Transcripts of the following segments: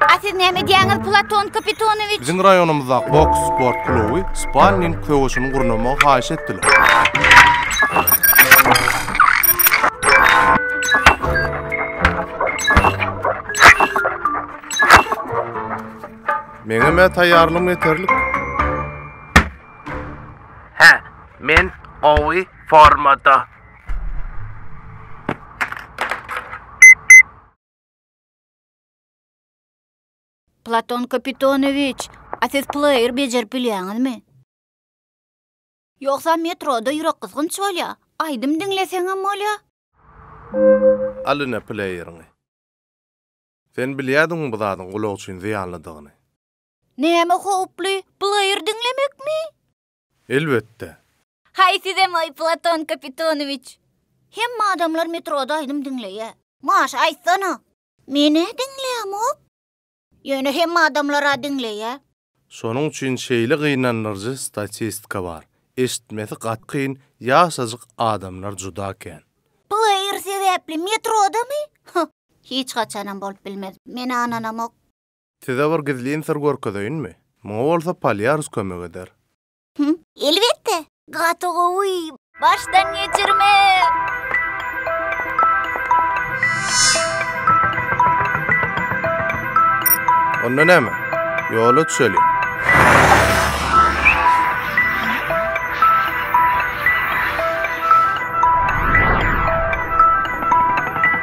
A siz näme edýäňiz, Platon Kapitanowiç? Biziň raýonymyzdaky boks sport kluby sparring söweşini gurnamagy haýyş etdiler. Meňem-ä taýýarlygym ýeterlik. Hä, men gowy formada. Platon Kapitanowiç, a siz pleýer bejerip bilýäňizmi? Ýogsa metroda ýürekgysgynç bolýa, aýdym diňleseňem bolýa. Al ine pleýeriňi. Sen bilýädiňmi bu zadyň gulak üçin zyýanlydygyny? Näme howply, pleýer diňlemekmi? Elbetde. Haý sizem-oý, Platon Kapitonowiç! Hemme adamlar metroda aýdym diňleýä. Maşa aýtsana! Men-ä diňlämok. Ýöne hemme adamlar-a diňleýä. Şonuň üçin şeýle gynandyryjy statistika bar. Eşitmesi gaty kyn ýaşajyk adamlar juda kän. Pleýer sebäpli metrodamy? Hyh! Hiç haçanam bolup bilmez. Men ananamok. Size bir gizlin syr görkezeýinmi? Muňa bolsa Polýarus kömek eder. Hum, elbetde! Gaty gowy! Başdan geçirme! Onda näme? Ýola düşeliň!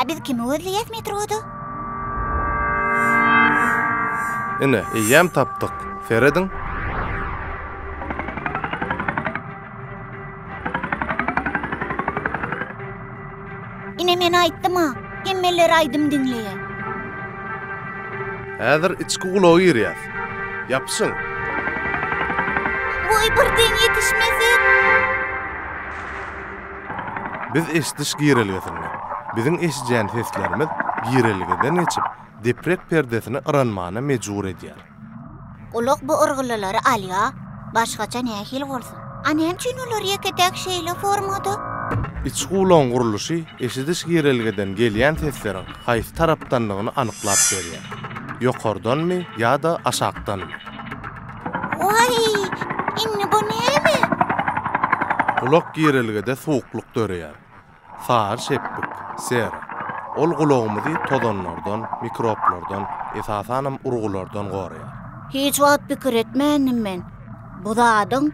A biz kimi gözleýäs metroda? Ine, eýýäm tapdyk. Serediň. Ine men aýtdym-a, hemmeler aýdym diňleýär. Häzir içki ulaga girýäs. Ýapyşyň. Woý, birden ýetişmesek? Biz eşidiş girelgesinde. Biziň eşidýän seslerimiz girelgeden geçip, deprek perdesini yranmana mejbur edýär. Gulak bu yrgylylary alýar, başgaça nähili bolsun? A näme üçin olar ýeke-täk şeýle formada? Içki gulagyň gurluşy eşidiş girelgeden gelýän sesleriň haýsy tarapdandygyny anyklap berýär, ýokardanmy ýa-da aşakdanmy? Waý, indi bu näme? Gulak girelgede suwuklyk döreýär. Sary şepbik, sera. Ol gulagymyzy tozanlardan, mikroplardan, esasanam urgulardan goraýar. Hiç wagt pikir etmändim men bu zadyň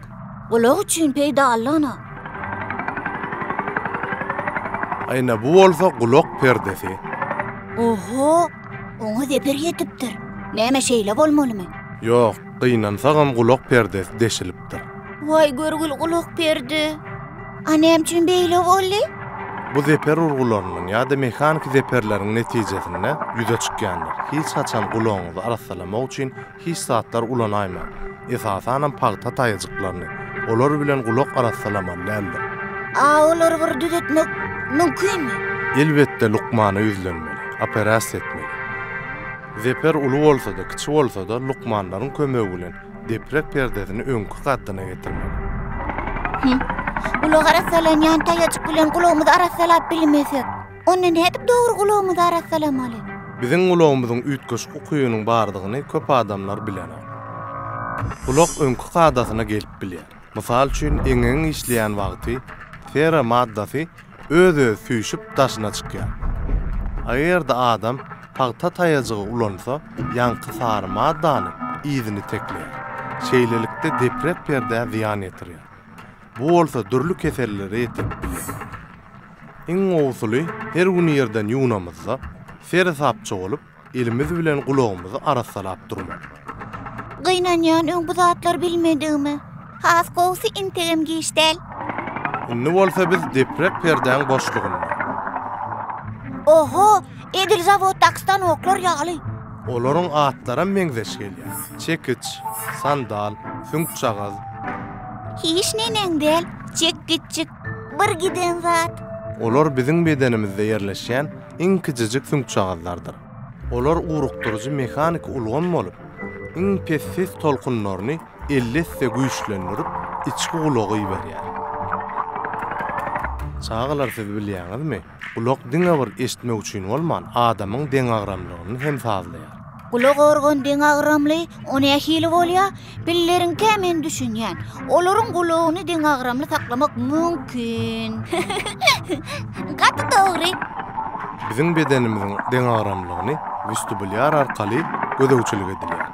gulak üçin peýdalydygyna. Aýna bu bolsa gulak perdesi. Oho! Oňa zeper ýetipdir. Näme şeýle bolmalymy? Ýok, gynansagam gulak perdesi deşilipdir. Waý görgül gulak perde. A näme üçin beýle boldy? Bu zeper urgularynyň ýa-da mehaniki zeperleriň netijesinde ýüze çykýandyr. Hiç haçan gulagyňyzy arassalamak üçin Hiç zatlar ulanaýmaň. Esasanam pagta taýajyklaryny. Olar bilen gulak arassalamaly däldir. A olary bir düzetmek mümkinmi? Elbetde lukmana ýüzlenmeli. Operasiýa etmeli. Zeper uly bolsa-da, kiçi bolsa-da, lukmanlaryň kömegi bilen deprek perdesini öňki kaddyna getirmeli. Hüm. Gulak arassalanýan taýajyk bilen gulagymyzy arassalap bilmesek? Onda nädip dogry gulagymyzy arassalamaly? Biziň gulagymyzyň üýtgeşik ukybynyň bardygyny köp adamlar bilenok. Gulak öňki kadasyna gelip bilýär. Mysal üçin, eňegiň işleýän wagty sera maddasy öz-özi süýşüp daşyna çykýar. Ager-de adam pagta taýajygy ulansa, ýaňky sary maddanyň yzyny tekleýär. Şeýlelikde deprep perdä zyýan ýetirýär. Bu bolsa dürli kesellere getirip biler. Iň gowusyly her gün ýerden ýuwnamyzda seresapja bolup elimiz bilen gulagymyzy arassalap durmak. Gynanýan öň bu zatlary bilmedigime. Has gowusy integem giç däl. Indi bolsa biz deprek perdäň boşlugynda. Oho! Edil zawoddaky stanoklar ýaly. Olaryň atlaram meňzeş gelýär. Çekiç, sandal, süňkjagaz. Hiç neneň däl, çekgiçjik, bir giden zat. Olar biziň bedenimizde ýerleşýän iň kiçijik süňkjagazlardyr. Olar ugrukdyryjy mehaniki ulgam bolup, iň pes ses tolkunlaryny elli esse güýçlendirip, içki gulaga iberýär. Çagalar siz bilýäňizmi? Gulak diňe bir eşitmek üçin bolman, adamyň deňagramlygyny hem sazlaýar. Gulak organ deňagramly, o nähili bolýa? Pilleriňkä men düşünýän. Olaryň gulagyny deňagramly saklamak mümkin. Gaty dogry. Biziň bedenimiziň deňagramlygyny westibulýar arkaly gözegçilik edilýär.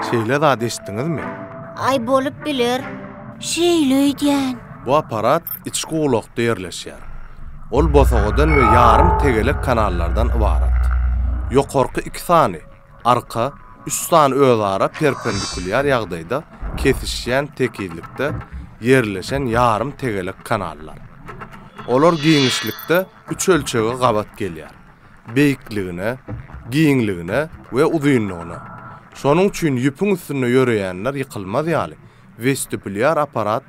Şeýle zat eşitdiňizmi? Aý bolup biler. Şeýle öýdýän. Bu apparat Içki gulakda ýerleşýär. Ol bosagadan we ýarym tegelek kanallardan ybarat. Ýokarky iki sany, arka, üç sany özara perpendikulýar ýagdaýda kesişýän tekizlikde ýerleşen ýarym tegelek kanallar. Olar giňişlikde üç ölçege gabat gelýär, beýikligine, giňligine we uzynlygyna. Şonuň üçin ýüpüň üstünde ýöreýänler ýykylmaz ýaly, westibulýar apparat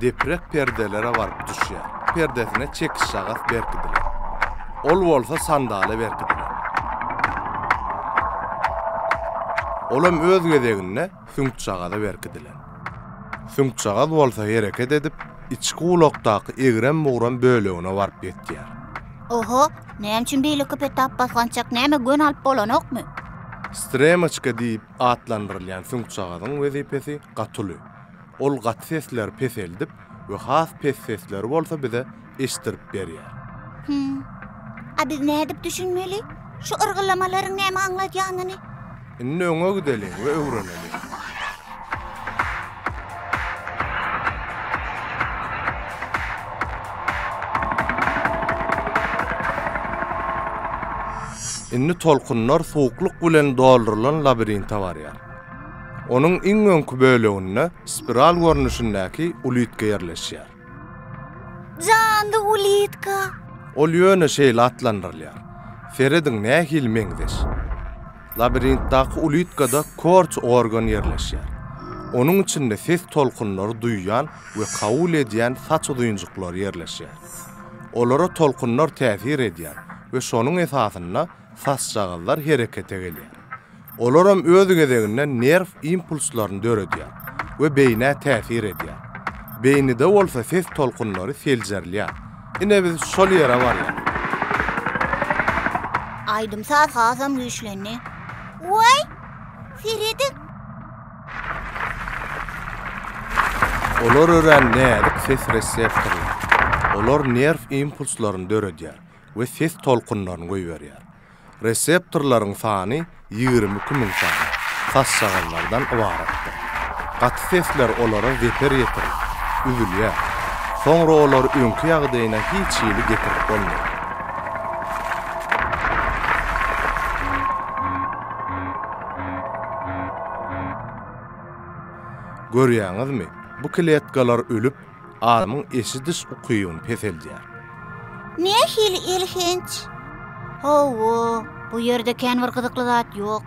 deprek perdelere baryp düşýär. Perdesine çekişžagas berkidilen. Ol bolsa sandala berkidilen. Olam öz gezeginde süňkjagaza berkidilen. Süňkjagaz bolsa hereket edip, içki gulakdaky egrem-bugram bölegine baryp ýetýär. Oho, näme üçin beýle köp etap basgançak, näme gön alyp bolanokmy? Stremoçka diýip atlandyrylýan süňkjagazyň wezipesi gaty uly. Ol gaty sesleri peseldip we has pes sesleri bolsa bize eşitdirip berýär. Hümm. A biz nädip düşünmeli? Şu yrgyllamalaryň näme aňladýanyny? Indi öňe gideliň we öwreneliň. Indi tolkunlar suwuklyk bilen doldurylan labirinte barýar. Onuň iň öňki böleginde spiral görnüşindäki ulitka ýerleşýär. Janly ulitka. Ol ýöne şeýle atlandyrylýar. Serediň nähili meňzeş. Labirintdäki ulitkada korç organ ýerleşýär. Onuň içinde ses tolkunlary duýýan we kabul edýän saç uzynjyklary ýerleşýär. Olara tolkunlar täsir edýär we şonuň esasynda Sazşagazlar herekete gelýär. Olaram öz gezeginde nerw impulslaryny döredýär we beýnä täsir edýär. Beýnide bolsa ses tolkunlary seljerilýär. Ine biz şol ýere barýarys. Aýdym-saz hasam güýçlendi. Waý, serediň! Olar örän näzik ses reseptorlary. Olar nerw impulslaryny döredýär. we ses tolkunlaryny goýberýär. Reseptorlaryň sany ýigrimi iki müň sany sazşagazlardan ybaratdyr. Gaty sesler olara zeper ýetirip, üzülýär. Soňra olary öňki ýagdaýyna hiç hili getirip bolmaýar. Görýäňizmi, bu kletkalar ölüp, adamyň eşidiş ukybyny peseldýär. Nähili elhenç! Hawa, bu ýerde kän bir gyzykly zat ýok.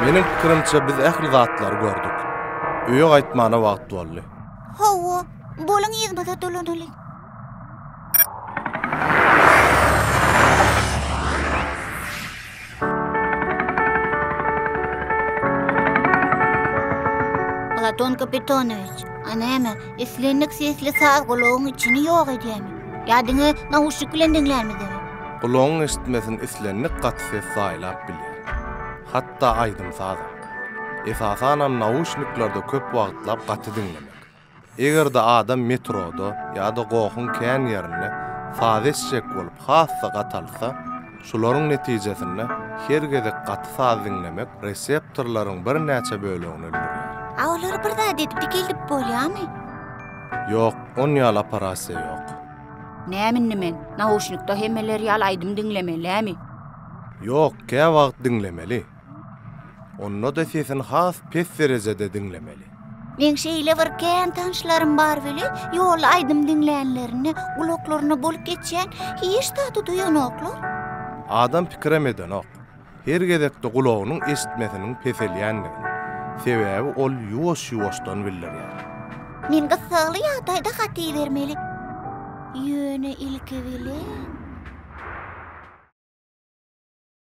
Meniň pikirimçe biz ähli zatlary gördük. Öýe gaýtmana wagt boldy. Hawa, boluň yzymyza dolanaly. Platon Kapitonyç, a näme? Islendik sesli saz gulagyň içini ýok edýärmi? Ýa diňe nauşnik bilen diňlärmizmi? Gulagyň eşitmesini islendik gaty ses saýlap bilýär. Hatda aýdym-sazam. Esasanam nauşniklerde köp wagtlap gaty diňlemek. Eger-de adam metroda ýa-da gohuň kän ýerinde saz eşjek bolup has-da gatalsa, Şularyň netijesinde her gezek gaty saz diňlemek reseptorlaryň birnäçe bölegini öldürýär. A olary bir zat edip dikeltip bolýamy? Ýok, on ýaly operasiýa ýok. Näme indi men, nauşnikda hemmeler ýaly aýdym diňlemelimi? Ýok, käwagt diňlemeli. Onda-da sesini has pes derejede diňlemeli. Meň şeýle bir kän tanyşlarym bar weli, ýolda aýdym diňlänlerinde, gulaklaryna bolup geçýän hiç zady duýanoklar. Adam pikirem edenok, her gezekde gulagynyň eşitmesiniň peselýändigini, sebäbi ol ýuwaş-ýuwaşdan bildirýär. Men gyssagly ýagdaýda hat ibermeli. Ýöne ilki bilen.